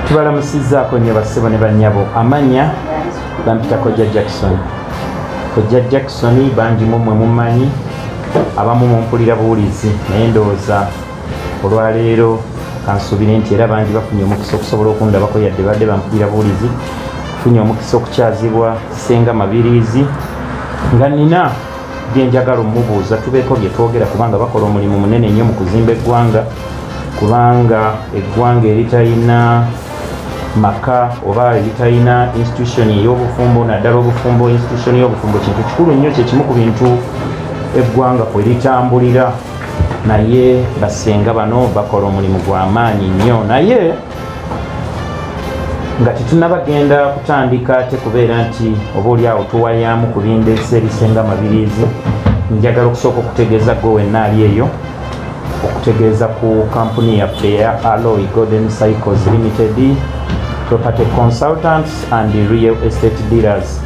tubalamusizzaako nnyo bassebo ne bannyabo amanya bampita kojja jackson kojja jackson bangi mumwe mumanyi abamu mumpulira buwulizi naye ndowooza olwaleero kansuubire nti era bangi bafunye omukisa okusobola okundabako yadde badde bampulira buwulizi funye omukisa okukyazibwa senga mabiriizi nga nina byenjagala omubuuza tubeeko byetwogera kubanga bakola omulimu munene nnyo mu kuzimba eggwanga kubanga eggwanga eritalina maka oba eritalina institution ey'obufumbo naddala obufumbo institution y'obufumbo kintu kikulu nnyo kyekimu ku bintu eggwanga kwe litambulira naye basenga bano bakola omulimu gwa maanyi nnyo naye nga tetunaba genda kutandika ate kubeera nti oba oli awo tuwayaamu ku bindeesa ebisinga mabiriizi njagala okusooka okutegeeza gwe wenna ali eyo okutegeeza ku kampuni yaffe eya aloy golden cycles limited property consultants and real estate dealers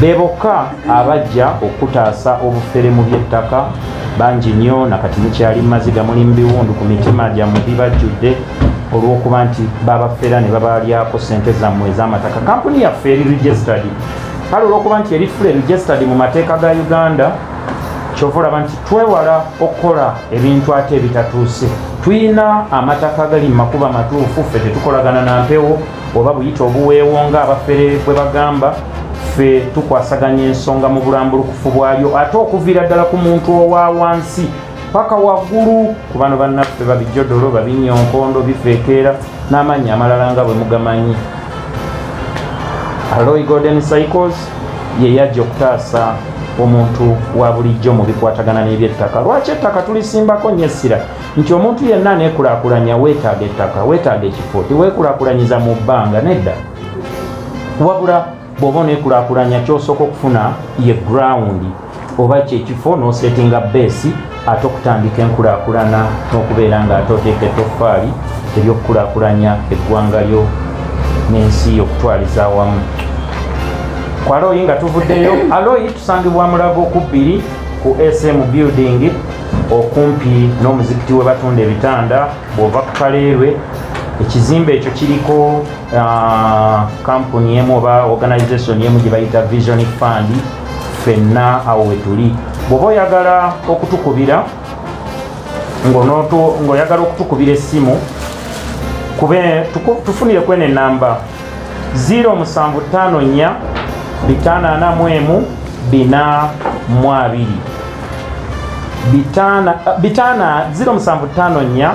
be bokka abajja okutaasa obufere mu by'ettaka bangi nnyo nakati mukyali mu maziga muli mu biwundu ku mitima gyammwe bibajjudde olw'okuba nti babafera ne babalyako sente zammwe ez'amataka kampuni yaffe eri registered kale olw'okuba nti eri fule registered mu mateeka ga uganda kyova olaba nti twewala okukola ebintu ate ebitatuuse tulina amataka gali mu makuba matuufu ffe tetukolagana na mpewo oba buyita obuweewo nga abafere bwe bagamba ffe tukwasaganya ensonga mu bulambulukufu bwayo ate okuviira ddala ku muntu owa wansi paka waggulu ku bano bannaffe babijodolo babinnya onkondo bifeekeera n'amaanyi amalala nga bwe mugamanyi aloy golden cycles ye yajja okutaasa omuntu wa bulijjo mu bikwatagana n'ebyettaka lwaki ettaka tulisimbako nnyo essira nti omuntu yenna aneekulakulanya weetaaga ettaka weetaaga ekifo tiweekulakulanyiza mu bbanga nedda wabula bw'oba oneekulakulanya kyosooka okufuna ye ground oba kyekifo n'osetinga beesi ate okutandika enkulakulana n'okubeera nga ate oteeka ettoffaali eryokukulakulanya eggwanga lyo n'ensi yo okutwaliza awamu ku aloyi nga tuvuddeyo aloyi tusangibwa mulago ku bbiri ku sm building okumpi n'omuzikiti we batunda ebitanda bw'ova ku kaleerwe ekizimbe ekyo kiriko Ah, kampuni emu oba organization emu gye bayita vision fund fenna awo wetuli bwoba oyagala okutukubira ngaoyagala okutukubira essimu kube tufunire kwene enamba 0754 541 4 0754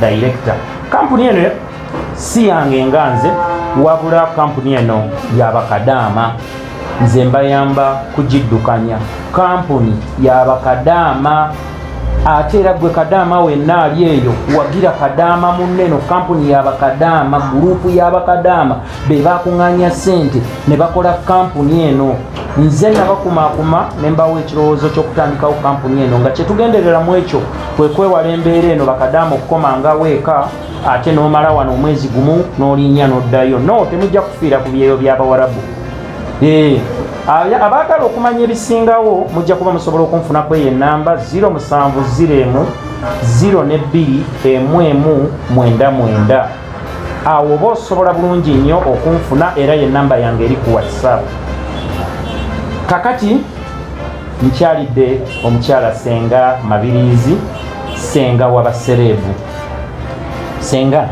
Director. Kampuni eno si yange nga nze wabula kampuni eno yabakadaama nze mbayamba kugiddukanya kampuni yabakadaama ate era gwe kadaama wenna ali eyo wagira kadaama munneno kampuni yabakadaama gurupu yabakadaama be bakuŋŋaanya ssente ne bakola kampuni eno nze nabakumakuma ne mbawo ekirowoozo ky'okutandikawo kampuni eno nga kyetugenderera mu ekyo kwe kwewala embeera eno bakadaama okukomangawo eka ate n'omala wano omwezi gumu n'olinnya n'oddayo no temujja kufiira ku byeyo by'abawarabu ee abaagala okumanya ebisingawo mujja kuba musobola okunfunako eyo enamba 07 0 emu 0 ne 2 emu emu mwenda mwenda awo oba osobola bulungi nnyo okunfuna era ye namba yange eri ku whatsapp kakati nkyalidde omukyala senga mabiriizi senga wabasereebu senga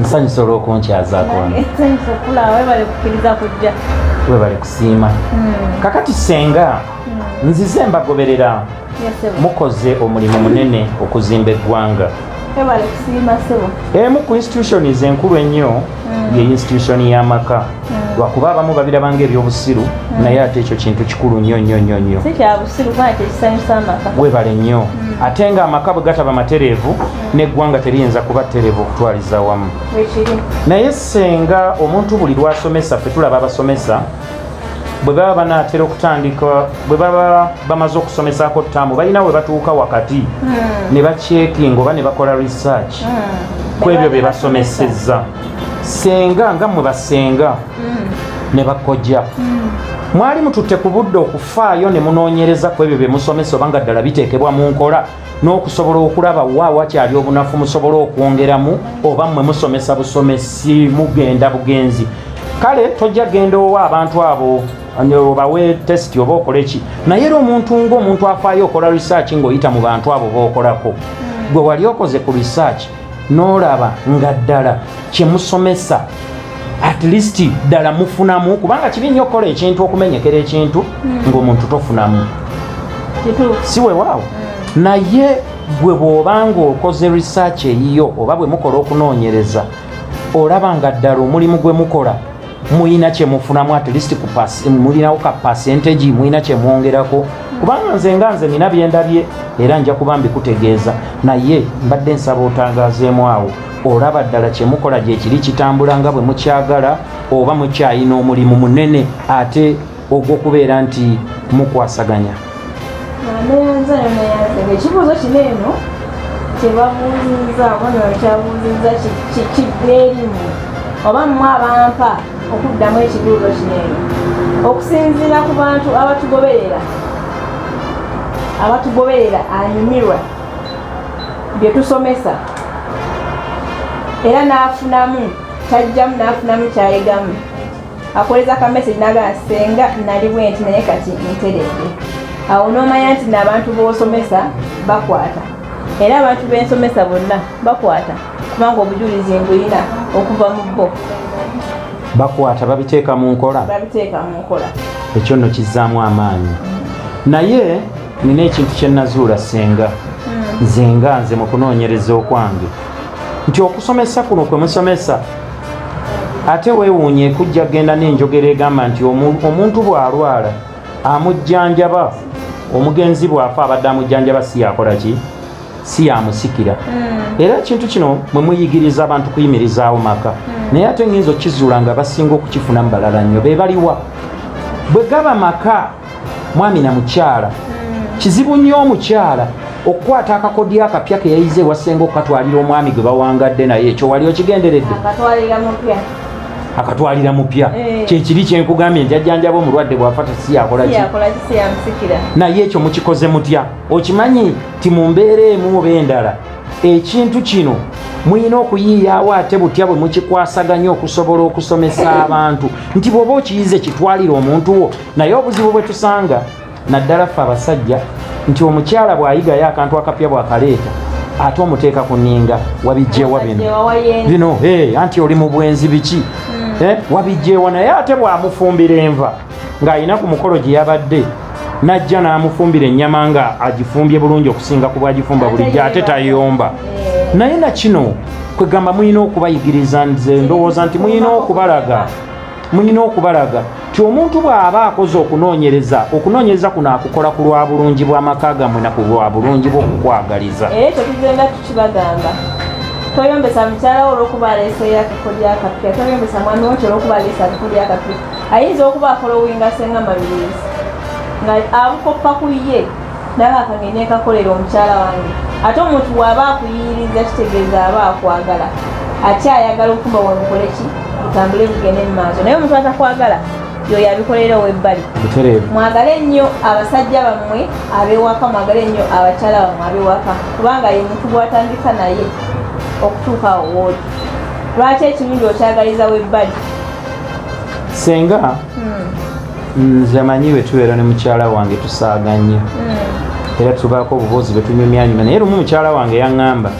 nsanyusa olwokunkyazako webale kusiima hmm. kakati senga hmm. nzize mbagoberera mukoze omulimu munene okuzimba eggwanga emu ku institutions enkulu ennyo mm. ye institution y'amaka mm. lwakuba abamu babiraba nga ebyobusiru mm. naye ate ekyo kintu kikulu nnyo nnyo nnyo nnyo webale nnyo ate nga amaka bwe gataba matereevu n'eggwanga teriyinza kuba tereevu okutwaliza wamu naye senga omuntu buli lwasomesa fe tulaba abasomesa bwe baba banaatera okutandika bwe baba bamaze okusomesaako ttaamu balina we batuuka wakati hmm. ne bakyekinga oba ne bakola research hmm. ku ebyo bye basomesezza senga nga mwe basenga hmm. ne bakojja mwali mututte ku budde okufaayo ne munoonyereza ku ebyo bye musomesa oba nga ddala biteekebwa mu nkola n'okusobola okulaba wa wakyali obunafu musobole okwongeramu oba mmwe musomesa busomesi mugenda bugenzi kale tojja genda owa abantu abo obawe test oba okole ki naye era omuntu ngaomuntu afaayo okola research ng'oyita mu bantu abo bookolako gwe wali okoze ku research n'olaba nga ddala kye musomesa at least ddala mufunamu kubanga kibi nnyo okukola ekintu okumenyekera ekintu hmm. ng'omuntu tofunamu si wewaawo hmm. naye gwe bw'oba ng'okoze research eyiyo oba bwe mukola okunoonyereza olaba nga ddala omulimu gwe mukola muyina kyemufunamu at least mulinawo ka percentage muyina kyemwongerako kubanga nze nga nze nina byendabye era nja kuba mbikutegeeza naye mbadde nsaba otangazeemu awo olaba ddala kyemukola gyekiri kitambula nga bwe mukyagala oba mukyayina omulimu munene ate ogw'okubeera nti mukwasaganya ekibuuzo kino eno kyebabuuzizza bona kyabuuzizza kigweerimu oba mmwe abampa okuddamu ekibuuzo kino eno okusinziira ku bantu abatugoberera abatugoberera anyumirwa bye tusomesa era n'afunamu kyajjamu n'afunamu kyayigamu akoleza ka message nagala senga nali bwenti naye kati nteredde awo n'omanya nti n'abantu b'osomesa bakwata era abantu b'ensomesa bonna bakwata kubanga obujulizi mbuyina okuva mu bo bakwata babiteeka mu nkola babiteeka mu nkola ekyo nno kizzaamu amaanyi naye nina ekintu kye nazuula senga hmm. nze nga nze mu kunoonyereza okwange nti okusomesa kuno kwe musomesa ate weewuunye ekujja genda n'enjogera egamba nti omuntu bw'alwala amujjanjaba omugenzi bw'afa abadde amujjanjaba si yakola ki si yamusikira hmm. era ekintu kino mwe muyigiriza abantu kuyimirizaawo maka hmm. naye ate ng'enza okukizuula nga basinga okukifunamu balala nnyo be baliwa bwe gaba maka mwami na mukyala hmm. kizibu nnyo omukyala okukwata akakodyo akapya keyayize ewasenga okukatwalira omwami gwe bawangadde naye ekyo wali okigenderedde akatwalira mupya eh. kyekiri kyenkugambye nti ajjanjaba omulwadde bwafa tesiyakolaki naye ekyo mukikoze mutya okimanyi ti mu mbeera emu oba endala ekintu kino mulina okuyiiyaawo ate butya bwe mukikwasaganya okusobola okusomesa abantu nti bw'oba okiyize kitwalire omuntu wo naye obuzibu bwe tusanga naddala ffe abasajja nti omukyala bw'ayigayo akantu akapya bw'akaleeta ate omuteeka ku ninga wabijjewa bino bino anti oli mu bwenzi biki hmm. eh, wabijjewa naye ate bw'amufumbira enva ng'alina ku mukolo gye yabadde n'ajja n'amufumbira ennyama nga agifumbye bulungi okusinga ku bwagifumba bulijjo ate tayomba eh. naye na kino kwegamba mulina okubayigiriza nze ndowooza nti mulina okubalaga mulina okubalaga ti omuntu bw'aba akoze okunoonyereza okunoonyereza kuno akukola ku lwa bulungi bw'amaka gammwe na ku lwa bulungi bw'okukwagaliza era ekyo tugenda tukibagamba toyombesa mukyala wo olwokuba aleeseyo akako lyakapya toyombesa mwami wo nti olwokuba aleese akako lyakapya ayinza okuba akolowinga senga mabirizi nga abukoppa ku ye ndaba kange nekakolera omukyala wange ate omuntu waaba akuyiyiriza kitegeeza aba akwagala ate ayagala okuba wamukole ki otambule bugende mu maaso naye omuntu atakwagala yoyo abikolera owebbali mwagale nnyo abasajja bammwe abewaka mwagale nnyo abakyala bammwe abewaka kubanga ye muntu gwatandika naye okutuuka owooli lwaki ekirungi okyagaliza webbali senga hmm. nze amanyi bwe tubeera ne mukyala wange tusaaga nnyo hmm. era tubaako obuboozi bwe tunyumyanyuma naye lumu mukyala wange yaŋŋamba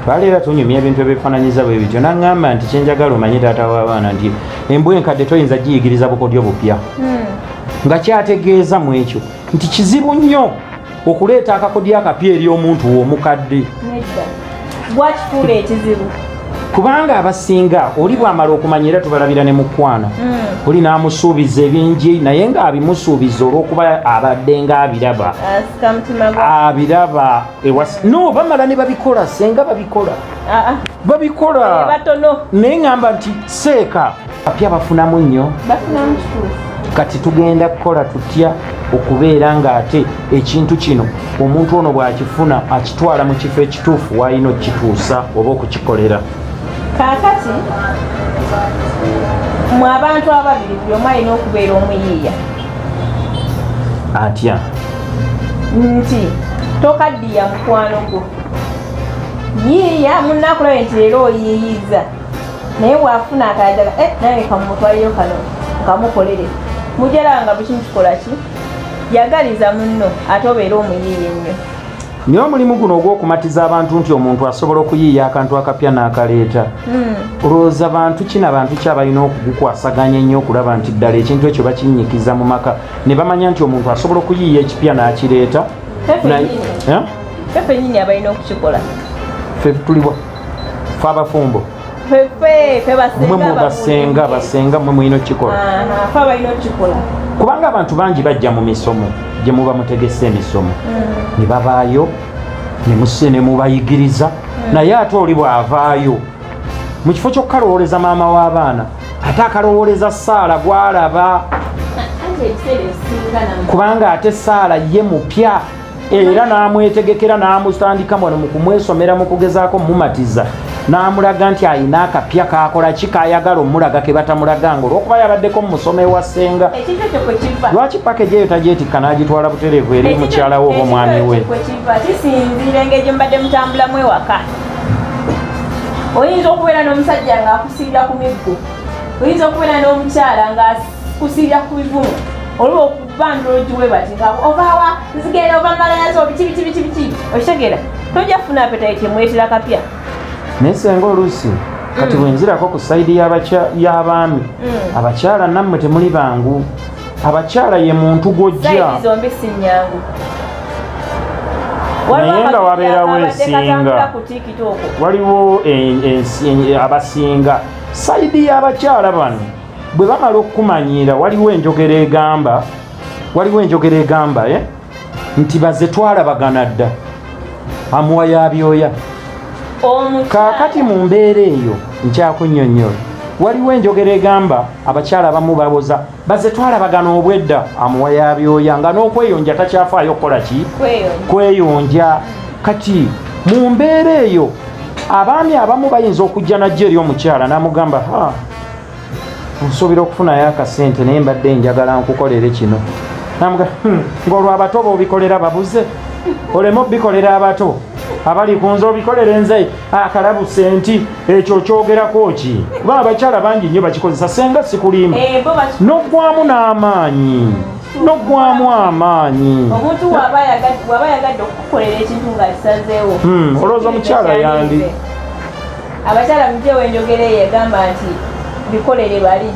twali era tunyumya ebintu ebifaananyiza bwe bityo naŋŋamba nti kyenjagala omanye taata w'abaana nti embwa enkadde toyinza giyigiriza bukodyo bupya hmm. nga kyategeeza mu ekyo nti kizibu nnyo okuleeta akakodyo akapya eri omuntu w'omukadde gwakifuula ekizibu kubanga abasinga oli bwamala okumanya era tubalabira ne mukwana hmm. oli n'amusuubiza ebingi naye ng'abimusuubiza olw'okuba abadde ng'abiraba abiraba no bamala ne babikola senga babikola ah, ah. babikola eh, naye ŋamba nti seeka apya bafunamu nnyo kati tugenda kukola tutya okubeera ng'ate ekintu kino omuntu ono bw'akifuna akitwala mu kifo ekituufu waalina okukituusa oba okukikolera kaakati mu abantu ababiri buli omu alina okubeera omuyiiya atya nti tokaddiya mukwano gwo yiiya munnaakulabe nti leero oyiiyizza naye bwafuna akayagala eh, naye kamutwaliyo kano kamukolere mujala nga bukimu kikola ki yagaliza munno ate obeera omuyiiya ennyo naye omulimu guno ogw'okumatiza abantu nti omuntu asobola okuyiiya akantu akapya n'akaleeta hmm. olowooza bantu kina bantu ki abalina okugukwasaganya ennyo okulaba nti ddala ekintu ekyo bakinnyikiza mu maka ne bamanya nti omuntu asobola okuyiiya ekipya n'akireeta fefenyini eh? abalina okukikola fe tuliwa fe abafumbo mwe basenga basenga mwe mulina okukikola kubanga abantu bangi bajja mu misomo gye muba mutegese emisomo mm. ne babaayo ne muse ne mubayigiriza mm. naye ate oli bw'avaayo mu kifo ky'okukalowooleza maama w'abaana ate akalowooleza saala gw'alaba kubanga ate saala ye mupya era n'amwetegekera n'amutandika wano mu kumwesomera mu kugezaako mumatiza n'amulaga nti alina akapya kakola ki kayagala omulaga ke batamulaganga olwokuba yabaddeko mu musoma ewa ssenga lwaki pakeji eyo tagyetikka n'agitwala butereevu eri mukyala we oba omwami we kisinziira engeri gye mubadde mutambulamu ewaka oyinza okubeera n'omusajja ng'akusiira ku miggo oyinza okubeera n'omukyala ng'akusiira ku bivumu olwoku bandulungi we bati nga ovawa nzigenda ova malayazo biki biki biki biki okitegera tojja kufuna apetayiti emwetera kapya naye senga oluusi kati mm. bwenzirako ku sayidi y'abaami mm. abakyala nammwe temuli bangu abakyala ye muntu gwojja naye nga wabeerawo ensinga waliwo abasinga sayidi y'abakyala bano bwe bamala okukumanyiira waliwo enjogera egamba waliwo enjogera egamba e nti baze twalabagana dda amuwa yabyoya kaakati mu mbeera eyo nkyakunyonyola waliwo enjogera egamba abakyala abamu baboza baze twalabagana obwedda amuwa yabyoya nga n'okweyonja takyafaayo okukola ki kweyonja kati mu mbeera eyo abaami abamu bayinza okujja najja eri omukyala n'amugamba ha nsuubira okufunayo akasente naye mbadde njagala nkukolere kino namuga hmm, ngaolwo abato bobikolera babuze oleme obikolera abato abali kunze obikolere nze akalabu senti ekyo kyogerako ki kuba abakyala bangi nnyo bakikozesa senga sikulimu eh, nogwamu n'amaanyi nogwamu amaanyi omuntu waba yagadde okukukolera ekintu nga kisazeewo hmm, olowooza omukyala yandi abakyala mugyewo enjogera eyo egamba nti bikolere bali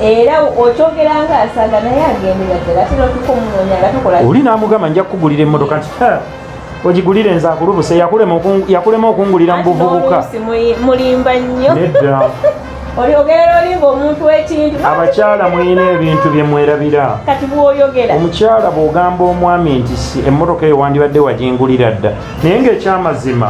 era okyogera nga asaga naye agendera ddala ate notuka omunoonya nga tukola oli n'amugamba nja kukugulira emmotoka nti ogigulire nze akulubuse yakulema okungulira mu buvubuka mulimba nnyo nedda oyogera olimba omuntu ekintu abakyala mulina ebintu bye mwerabira kati bwoyogera omukyala bw'ogamba omwami nti si emmotoka eyo wandibadde wagingulira dda naye ng'ekyamazima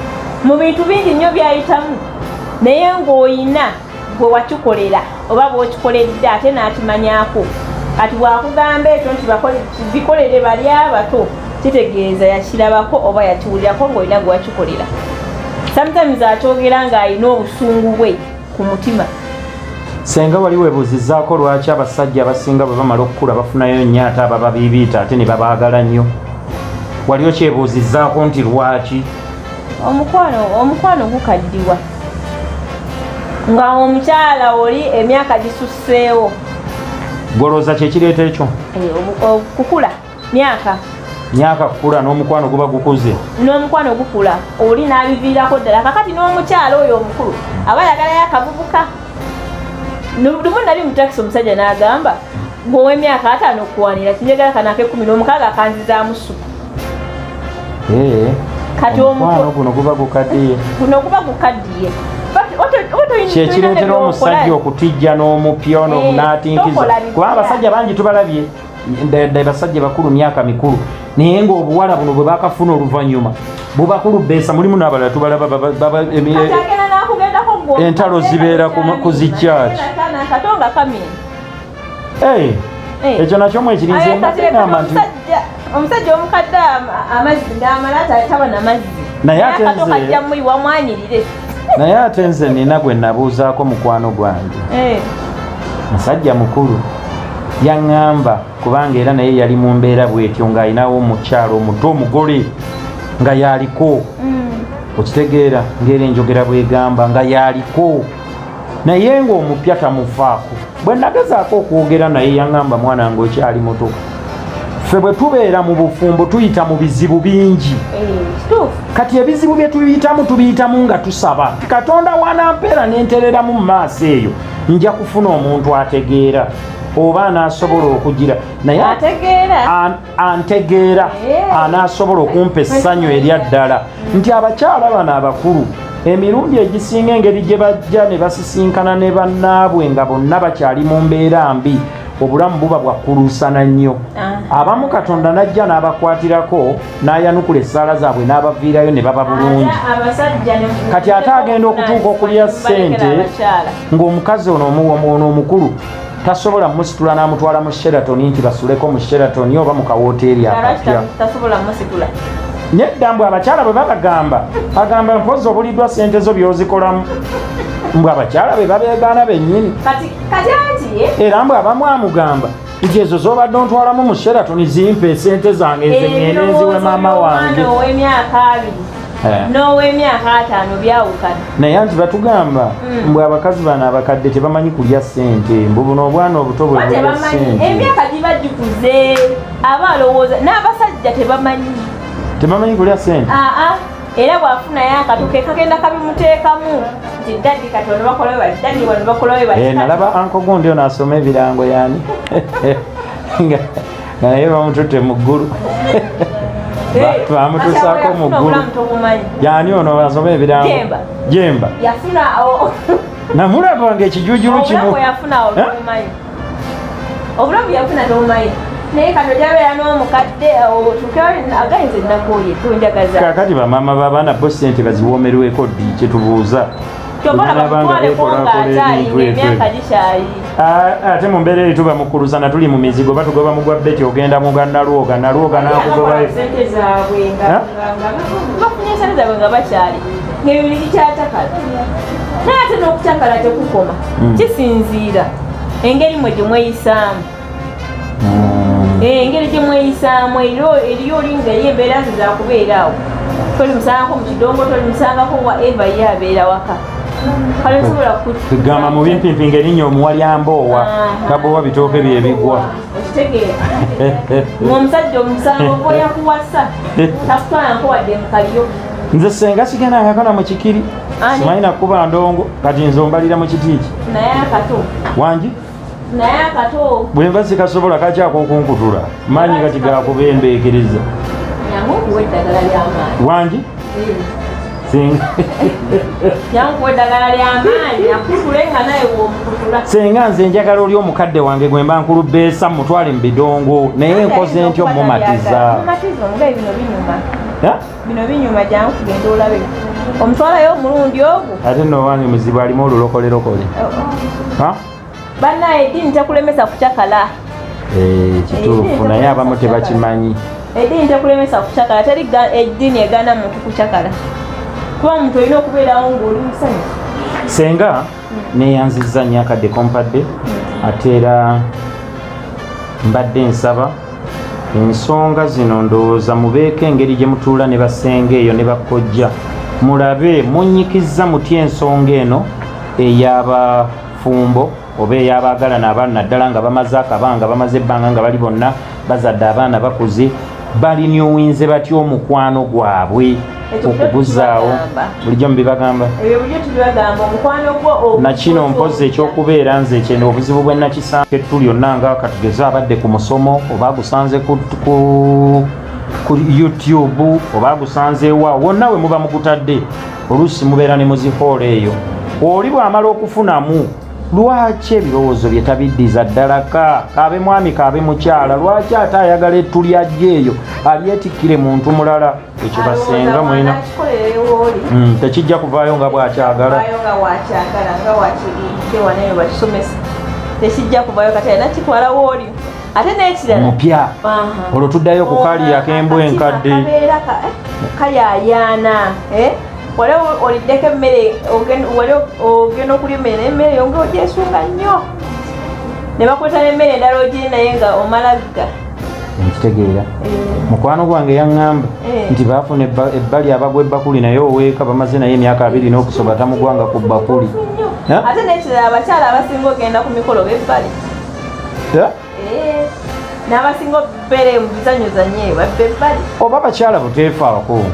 mu bintu bingi nnyo byayitamu naye ng'oyina gwe wakikolera oba bwokikoledde ate n'akimanyako kati bwakugamba ekyo nti bikolere bali abato kitegeeza yakirabako oba yakiwulirako ng'olina gwe wakikolera sometimes akyogera ng'alina obusungu bwe ku mutima senga wali webuuzizaako lwaki abasajja abasinga bwe bamala okukula bafunayo nnyo ate abababiibiita ate ne babaagala nnyo wali okyebuuzizaako nti lwaki omukwano omukwano gukaddiwa nga omukyala oli emyaka gisusseewo golooza kyekireeta ekyo eh, okukula myaka myaka kukula n'omukwano guba gukuze n'omukwano gukula oli n'abiviirako ddala kakati n'omukyalo oyo omukulu aba yagalayo akavubuka lumu nali mutakisi omusajja n'agamba gweowemyaka ataano okuwanira kinjagala kano akekumi n'omukaaga akanzizaamu suku eh, kati omukwano guno guba gukaddiye guno guba gukaddiye kyekireetera omusajja okutijja n'omupya ono eh, omunaatinkiza kuba abasajja bangi tubalabye ddala basajja bakulu myaka mikulu naye ngaobuwala buno bwe bakafuna oluvannyuma bubakulu beesa mulimu n'abalala tubalaba entalo zibeera ku zikyaki eh, eh. ekyo nakyo mwekirinzegamba nti omusajja omukadde amazzi ngaamala taba namazzi naye ate nze naye ate nze nina gwe nabuuzaako mukwano gwange eh. musajja mukulu yaŋŋamba kubanga era naye yali mu mbeera bwetyo ng'alinawo omukyalo omuto omugole nga yaliko mm. okitegeera ngaera enjogera bwegamba nga yaliko naye ng'omupya tamufaako bwe nagezaako okwogera naye yaŋŋamba mwana ng'okyali muto ffe bwe tubeera mu bufumbo tuyita mu bizibu bingi eh, kati ebizibu bye tuyitamu tubiyitamu nga tusaba katonda wanampeera nentereramu mu maaso eyo nja kufuna omuntu ategeera oba anasobola okugira naye antegeera eh. anasobola okumpa essanyu erya ddala nti abakyala bano abakulu emirundi egisinga engeri gye bajja ne basisinkana ne bannaabwe nga bonna bakyali mu mbeera mbi obulamu buba bwakkuluusana nnyo ah. abamu katonda n'ajja n'abakwatirako n'ayanukula essaala zaabwe n'abaviirayo ne baba bulungi kati ate agenda okutuuka okulya ssente ng'omukazi ono ono omukulu tasobola musitula n'amutwala mu sheraton nti basuleko mu sheraton oba mu kawooteeri akapya nedda mbwe abakyala bwe babagamba agamba mpozi obuliddwa ssente zo by'ozikolamu mbwe abakyala be babeegaana bennyini era mbu abamu amugamba nti ezo zobadde ontwalamu mu sheraton zimpa esente zange ezengenenziwe maama wange Eh. n'ow'emyaka ataano byawukana naye anti batugamba hmm. mbwe abakazi bano abakadde tebamanyi kulya ssente mbu buno obwana obuto bweemyaka giba gikuze aba alowooza n'abasajja tebamanyi tebamanyi kulya ssente ah, ah. era bwafunayo akatu ke kagenda kabimuteekamu nti dadi kati wano bakola we bati dadi wano bakola we bati eh, nalaba anko gundi ono asoma ebirango yani nga naye bamututte mu ggulu bamutusaako mu ggulu yani ono asoma ebirango jemba yafuna namulaba nga ekijujulu kimu eh? obulamu yafuna n'omaye naye kano jabeera n'omukadde agayinza ennaku oyo tunjagaza kakati bamaama babaana bo sente baziwoomerweko ddi kyetubuuza ate mu mbeera eri tuba mukuluzana tuli mu mizigo batugoba mugwa beti ogenda muga nalwoga nalwoga nakugobayo ng'ebiri bikyatakala naye ate n'okutakala tekukoma hmm. kisinziira engeri mwe gye mweyisaamu hmm. eh, engeri gye mweyisaamu eriyo olinga eri embeera ze zakubeera awo tolimusangako mu kidongo tolimusangako wa eva ye abeera waka gamba mubimpimpi ngerinya omuwalyamba owa tabowa bitooke byebigwa omusajja omusango oyakuwasa takutwalanko wadde mukaliyo nze senga sigenda ngakana mu kikiri simanyi nakuba ndongo kati nze ombalira mu kitiiki wangi bwenva sikasobola kakyakokunkutula maanyi kati gakuba embeekeriza wangi senga nze njagala oli omukadde wange gwemba nkulubeesa mutwale mu bidongo naye nkoze ntyo mumatiza bino binyuma jangu kugenda olabe omutwalayo omulundi ogwo ate nowange muzibu alimu olulokolerokole oh, oh. banaye eddiini tekulemesa kucakala eh, kituufu eh, naye abamu tebakimanyi eddiini tekulemesa kucakala teri eddiini egana muntu kucakala kuba muntu olina okubeerawo ngaoli musanyu senga neyanziza nyo akadde kompadde ate era mbadde nsaba ensonga zino ndowooza mubeeko engeri gye mutuula ne basenga eyo ne bakkojja mulabe munyikizza mutya ensonga eno ey'abafumbo oba ey'abaagalana abaana naddala nga bamaze akabanga bamaze ebbanga nga bali bonna bazadde abaana bakuze balinyuwinze batya omukwano gwabwe okubuzaawo bulijjo mubibagamba nakino mpozi ekyokubeera nze kyene obuzibu bwenakisanga ettu lyonna nga katugeze abadde ku musomo oba agusanze ku ku youtube oba agusanzeewa wonna we muba mugutadde oluusi mubeera ne muzihoolo eyo oli bw'amala okufunamu lwaki ebirowoozo bye tabiddiza ddala ka kaabe mwami kaabe mukyala lwaki ate ayagala ettu lyajja eyo alyetikkire muntu mulala ekyo basenga mulina hmm, tekijja kuvaayo nga bwakyagala tekijja kuvayo kati alina kitwala wooli ate nekirala mupya olwo tuddayo ku kali akembwa enkadde eh, kali ayaana eh? wali oliddeko emmere wali ogenda okulya emmere emmere yonga ogyesunga nnyo ne bakweta n'emmere endala ogiri naye nga omalagga nkitegeera eh. mukwano gwange yaŋŋamba eh. nti baafuna ebbali abagwa ebbakuli naye oweeka bamaze naye emyaka abiri n'okusoba tamugwanga ku bbakuli ate nekirala abakyala abasinga ogenda ku mikolo bebbali Eh, n'abasinga okubeera mu bizanyo zanye babbe bali oba bakyala buteefu abakungu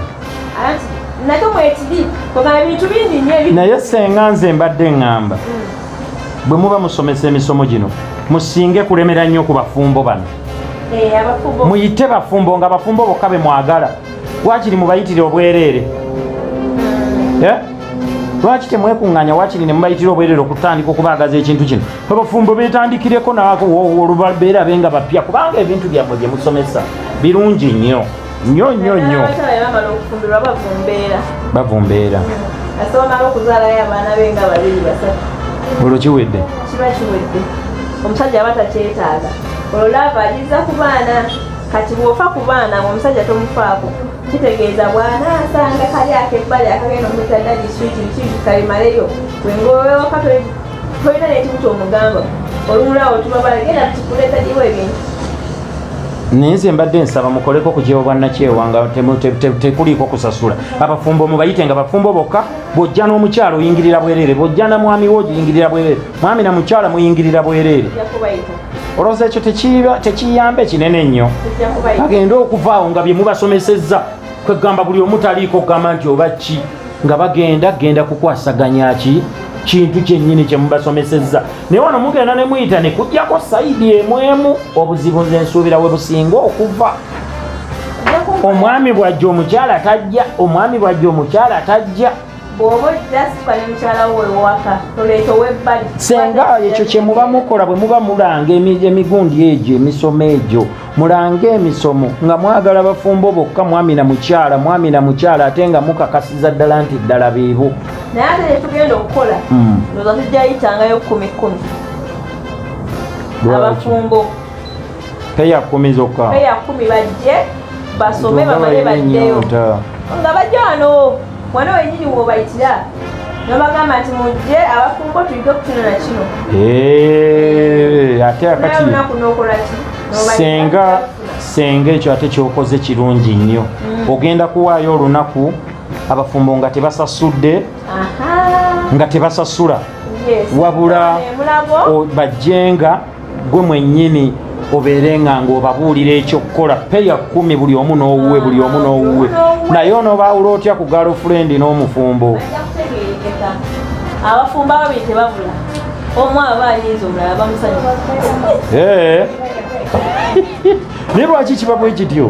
nate mwekiri kogana bintu bingi nyo naye senga nze mbadde ŋŋamba hmm. bwe muba musomesa emisomo gino musinge kulemera nnyo ku bafumbo bano eh, muyite bafumbo nga bafumbo bokka be mwagala wakiri mubayitire obwereere hmm. eh? lwaki temwekuŋŋanya wakiri ne mubayitira obwereere okutandika okubaagaza ekintu kino abafumbo betandikireko nolubabeera benga bapya kubanga ebintu byammwe bye musomesa birungi nnyo nnyo nnyo nnyo bavumbeera olwo kiwedde kiba kiwedde omusajja aba takyetaaga olwo laava agiza ku baana kati bwofa ku baana omusajja tomufaako kitegeeza bwana asanga kali akebbali akagenda omutadda diswiti kiki kalimaleyo wengowewakatoi tolina nekibuta omugamba olumulawo tubabala genda tukuleta jiwo ebintu naye nze mbadde nsaba mukoleko kugyewo bwannakyewa nga tekuliiko kusasula abafumbo mubayite nga bafumbo bokka bwojja n'omukyalo oyingirira bwereere bwojja na mwami wo oyingirira bwereere mwami na mukyala muyingirira bwereere olowooza ekyo tekiyamba ekinene nnyo agende okuvaawo nga bye mubasomesezza kwegamba buli omu taliiko okugamba nti oba ki nga bagenda genda kukwasaganya ki kintu kyennyini kye mubasomesezza naye wano mugenda ne muyita ne kujjako sayidi emwemu obuzibu nze nsuubira we businga okuva omwami bwajja omukyala tajja omwami bwajja omukyala tajja senga ekyo kyemuba mukola bwe muba mulanga emigundi egyo emisomo egyo mulange emisomo nga mwagala bafumbo bokka mwami na mukyala mwami na mukyala ate nga mukakasiza ddala nti ddala biibu naye ate netugenda okukola hmm. oza tujjayitangayo kumi kumi abafumbo peya kumi zokka peya kumi bajje basome bamale baddeyo nga bajja wano wano wenyini wobayitira nobagamba nti mujje abafumbo tuyige okutunula kino eh, ate akati senga senga ekyo ate kyokoze kirungi nnyo mm. ogenda kuwaayo olunaku abafumbo nga tebasasudde nga tebasasula wabula bajjenga gwe mwennyini obeere nga ng'obabuulira ekyokukola peya kkumi buli omu n'owuwe buli omu n'owuwe naye onoobaawula otya ku galofulendi n'omufumbo abafumbo ababiri tebabula omu aba ayinza omulala bamusanyusa naye lwaki kiba bwe kityo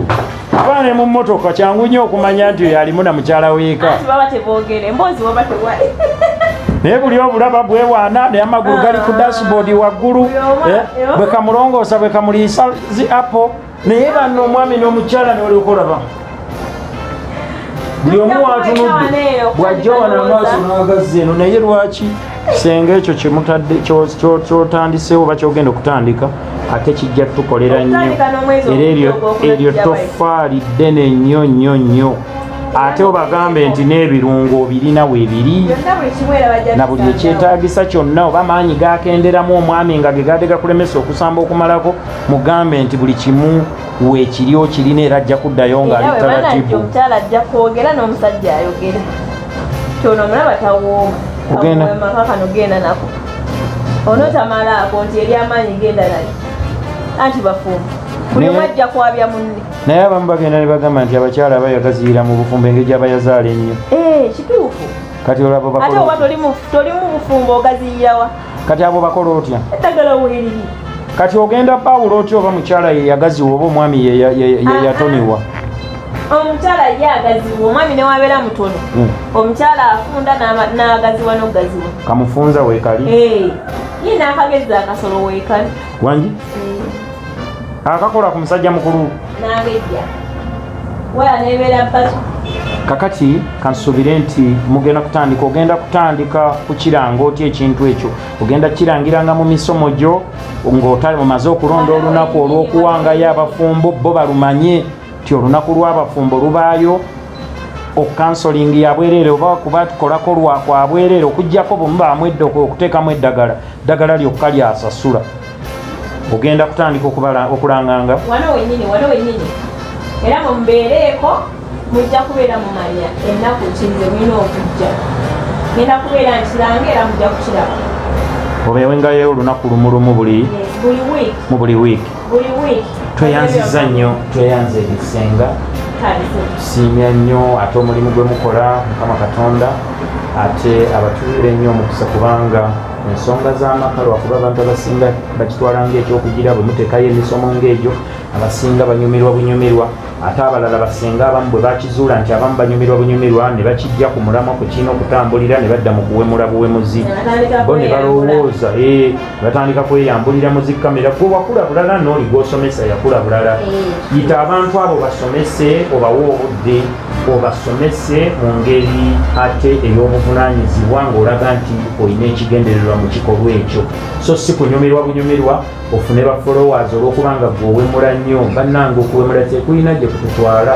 abaana ne mu mmotoka kyangu nnyo okumanya nti oyo alimu na mukyala weeka naye buli obulaba bwewaana naye amagulu gali ku dashboard waggulu eh, bwe kamulongoosa bwe kamuliisa zi apple naye banna omwami n'omukyala newaliokolaba buli omu watunudde bwajja wana amaaso n'agazzi eno naye lwaki senga ekyo kyemutadde kyotandisewo oba kyogenda okutandika ate kijja tukolera nnyo era eryo tofaali ddene nnyo nnyo nnyo ate obagambe nti n'ebirungo obirina webiri na buli ekyetagisa kyonna oba maanyi gakenderamu omwami nga gegade gakulemesa okusamba okumalako mugambe nti buli kimu wekiri okirina era ajja kuddayo ng'ali talatibu kyono omulaba tawooma ogenda kano genda nako onotamalaako nti eri amaanyi genda nayo anti bafumbo buli omu ajja kwabya munne naye abamu bagenda ne bagamba nti abakyala abayagaziira mu bufumbo engeri gyabayazaala ennyo eh, kituufu kati olaba ate oba toli mu bufumbo ogaziyirawa kati abo bakola otya eddagala weeriri kati ogenda pawulo otya oba mukyala yeyagaziwa oba omwami yeyatoniwa omukyala ye agaziwa omwami newabeera mutono hmm. omukyala afunda n'agaziwa n'ogaziwa kamufunza weekali ye n'akagezi akasolo weekali wangi hmm. akakola ku musajja mukulu kakati kansuubire nti mugenda kutandika ogenda kutandika kukiranga otya ekintu ekyo ogenda kukirangiranga mu misomo gyo ng'otali mumaze okulonda olunaku olw'okuwangayo abafumbo bo balumanye nti olunaku lw'abafumbo lubaayo okukansolingi yabwerere oba kuba tukolako lwakwabwerere okujjako bumubamwedde okuteekamu eddagala ddagala lyokka lyasasula ogenda kutandika okulanganga wano wenyini wano wenyini era mumbeereeko mujja kubeera mumanya ennaku kinze mulina okujja genda kubeera nkiranga era mujja kukiraba obeewengayo olunaku lumulumu buli mu buli wiiki tweyanziza nnyo tweyanza ebisenga tusiimya nnyo ate omulimu gwe mukola mukama katonda ate abatuwire nnyo omukisa kubanga ensonga z'amaka lwakuba abantu abasinga bakitwala ngaekyokugira bwe muteekayo emisomo ng'egyo abasinga banyumirwa bunyumirwa ate abalala basinga abamu bwe bakizuula nti abamu banyumirwa bunyumirwa ne bakijja ku mulamwa ku kirina okutambulira ne badda mu kuwemula buwemuzi bo ne balowooza eh, batandika kweyambulira muzikamera gwe wakula bulala nooli gwosomesa yakula bulala eh. yita abantu abo basomese obawe obudde obasomese mu ngeri ate ey'obuvunaanyizibwa ng'olaga nti olina ekigendererwa mu kikolwa ekyo so si kunyumirwa bunyumirwa ofune ba followers olw'okuba nga gwe owemula nnyo bannanga okuwemula tekulina gye kututwala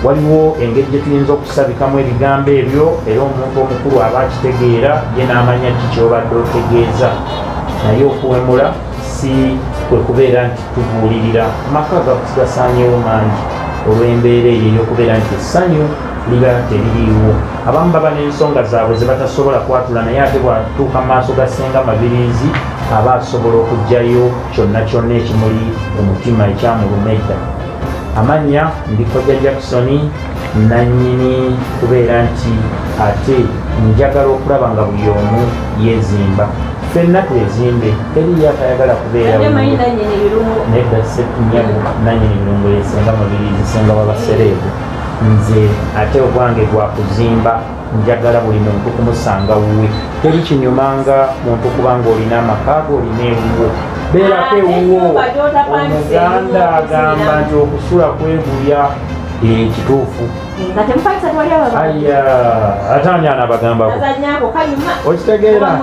waliwo engeri gye tuyinza okusabikamu ebigambo ebyo era omuntu omukulu aba akitegeera ye n'amanya ki kyobadde otegeeza naye okuwemula si kwe kubeera nti Tubuulirira maka gakuti gasaanyewo mangi olw'embeera eyo ey'okubeera nti essanyu liba teririiwo abamu baba n'ensonga zaabwe ze batasobola kwatula naye ate bwatuuka mu maaso ga ssenga mabiriizi aba asobola okugyayo kyonna kyonna ekimuli omutima ekyamuluma edda amannya ndi kojja jacksoni nannyini kubeera nti ate njagala okulaba nga buli omu yezimba fenna twezimbe teriyo atayagala kubeerananyini birungo yesinga mubiri zisinga wabasereebu nze ate ogwange gwakuzimba njagala buli muntu kumusanga wuwe teri kinyumanga muntu kubanga olina amakaago olina ewuwo beerako ewuwo omuganda agamba nti okusula kwegulya Eh, kituufu ataani anabagambako okitegeera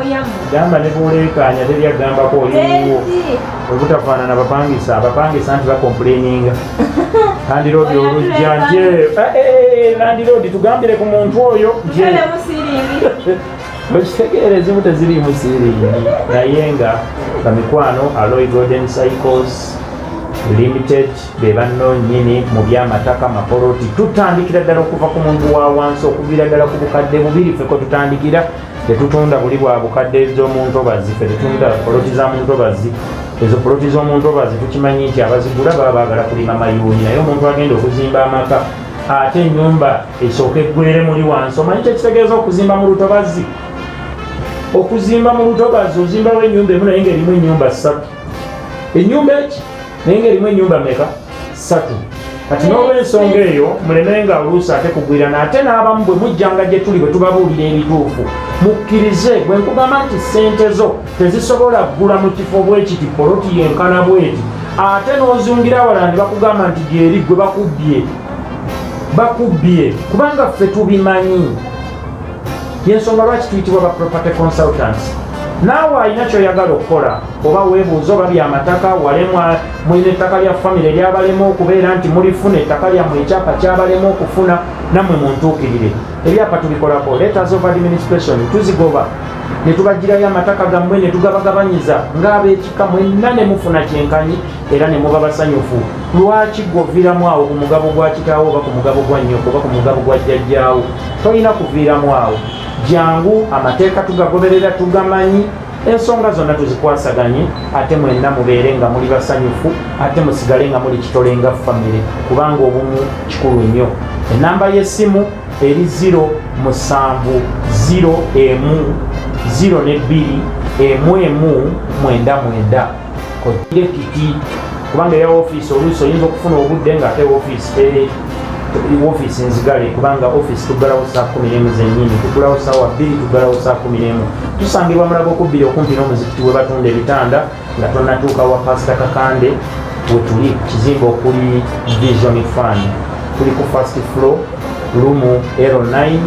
gamba ne buleekaanya teri agambako oliwo obutafaanana bapangisa abapangisa nti bakompuleninga landiroodi olujja nje landiroodi eh, eh, tugambire ku muntu oyo nje okitegeera ezimu teziriimu siiringi naye nga bamikwano aloy golden cycles limited be banno nyini mu byamataka mapoloti tutandikira ddala okuva ku muntu wa wansi okuviira ddala ku bukadde bubiri feko tutandikira tetutunda buli bwa bukadde z'omuntobazi fe tetunda poloti za muntobazi ezo poloti z'omuntobazi tukimanyi nti abazigula baba baagala kulima mayuuni naye omuntu agenda okuzimba amaka ate enyumba esooka eggwere muli wansi omanyi kyekitegeeza okuzimba mu lutobazi okuzimba mu lutobazi ozimbawo enyumba emu naye nga erimu enyumba ssatu enyumba eki naye nga erimu enyumba meka satu kati n'olwensonga eyo mulemenga oluusi ate kugwirana ate n'abamu bwe mujjanga gye tuli bwe tubabuulira ebituufu mukkirize bwe nkugamba nti ssente zo tezisobola kugula mu kifo bwekiti poloti yenkana bweti ate n'ozungira wala ne bakugamba nti gyeri gwe bakubbye bakubbye kubanga ffe tubimanyi yensonga lwaki tuyitibwa ba property consultants naawe alina kyoyagala okukola oba webuuza oba byamataka walemwa mulina ettaka lya famire lyabalema okubeera nti mulifuna ettaka lyammwe ekyapa kyabalema okufuna nammwe muntuukirire ebyapa tubikolako letters of administration tuzigoba netubajjirayo amataka gammwe netugabagabanyiza ng'abekika mwenna ne mufuna kyenkanyi era ne muba basanyufu lwaki gwoviiramu awo ku mugabo gwa kitaawo oba ku mugabo gwa nnyoko oba ku mugabo gwa jjajjaawo tolina kuviiramu awo jangu amateeka tugagoberera tugamanyi ensonga zonna tuzikwasaganye ate mwenna mubeere nga muli basanyufu ate musigale nga muli kitole nga famire kubanga obumu kikulu nnyo enamba y'essimu eri 0 musanvu 0 emu 0 ne bbiri emu emu mwenda mwenda kojjire kiti kubanga eya ofiisi oluusi oyinza okufuna obudde ngaate ofiisi eh, ofiisi nzigale kubanga ofiisi tuggalawo saa kumi nemu zenyini tugulawo saawa bbiri tuggalawo saa kumi nemu tusangibwa mulaga okubbiri okumpi n'omuzikiti we batunda ebitanda nga tonatuuka wa pasita kakande wetuli kizimba okuli vision fund tuli ku fast flow lumu ero 9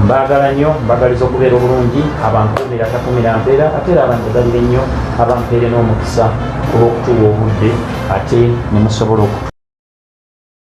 mbagala nnyo mbagaliza okubeera obulungi abankuumira takumira mpeera ate era abanjagalire nnyo abampeere n'omukisa olw'okutuwa obudde ate nemusobola oku